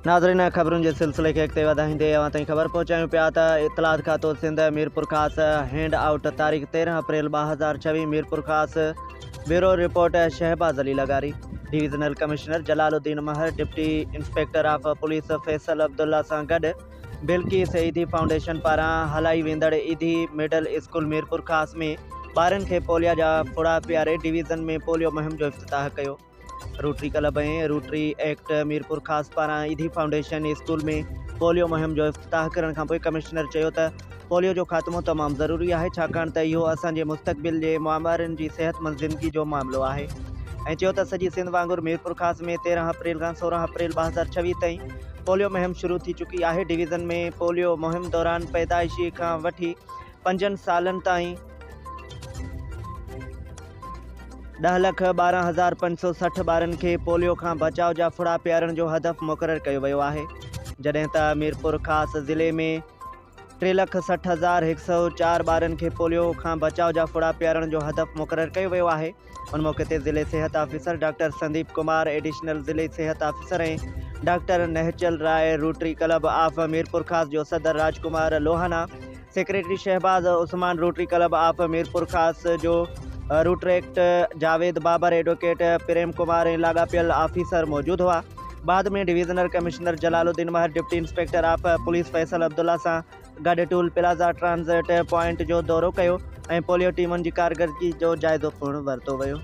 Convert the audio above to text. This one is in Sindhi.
ناظرين خبرن جي سلسلي کي اڳتي وڌائيندي اوهان تائين خبر پهچايون پيا ته اطلاعات کاتو سنڌ ميرپورخاص هينڊ آئوٽ تاريخ تيرهن اپريل ٻه هزار ڇويهه ميرپورخاص بيورو رپورٽ شهباز علي لغاري divisional commissioner Jalal Uddin Mehar deputy inspector of police Faisal Abdullah سان گڏ بلقيس ايڌي فائونڊيشن پاران هلائي ويندڙ ايڌي مڊل اسڪول ميرپورخاص ۾ ٻارن کي پوليا جا ڦڙا پياري ڊويزن ۾ پوليو مهم جو افتتاح ڪيو Rotary Club ۽ Rotaract Mirpurkhas پاران ايڌي فائونڊيشن اسڪول ۾ پوليو مهم جو افتتاح ڪرڻ کانپوء ڪمشنر چيو ته پوليو جو خاتمو تمام ضروري آهي ڇاڪاڻ ته اهو اسان جي مستقبل جي معمارن جي صحتمند زندگي جو معاملو آهي ۽ چيو ته سڄي سنڌ وانگر ميرپورخاص ۾ تيرهن اپريل کان سورهن اپريل ٻه هزار ڇويهه تائين پوليو مهم شروع ٿي چڪي آهي ڊويزن ۾ پوليو مهم دوران پيدائشي کان وٺي پنجن سالن تائين ڏهه لک ٻارهن هزار پنج سو سٺ ٻارن کي پوليو کان بچاء جا ڦڙا پيارڻ جو هدف مقرر ڪيو ويو آهي جڏهن ته ميرپور خاص ضلعي ۾ ٽي لک سٺ هزار هڪ سئو چار ٻارن کي پوليو کان بچاء جا ڦڙا پيارڻ جو هدف مقرر ڪيو ويو آهي ان موقعي تي ضلعي صحت officer doctor Sandeep Kumar additional ضلعي صحت officer ۽ doctor Nihchal Rai Rotary club of Mirpurkhas جو صدر Raj Kumar Lohana secretary Shahbaz Usman Rotary club of Mirpurkhas جو روٽريڪٽ جاويد بابر ايڊوڪيٽ پريم ڪمار ۽ لاڳاپيل آفيسر موجود هئا بعد ۾ divisional commissioner Jalal Uddin Mehar deputy inspector of police Faisal Abdullah سان گڏ ٽول پلازا ٽرانزٽ پوائنٽ جو دورو ڪيو ۽ پوليو ٽيمن جي ڪارڪردگي جو جائزو پڻ ورتو ويو.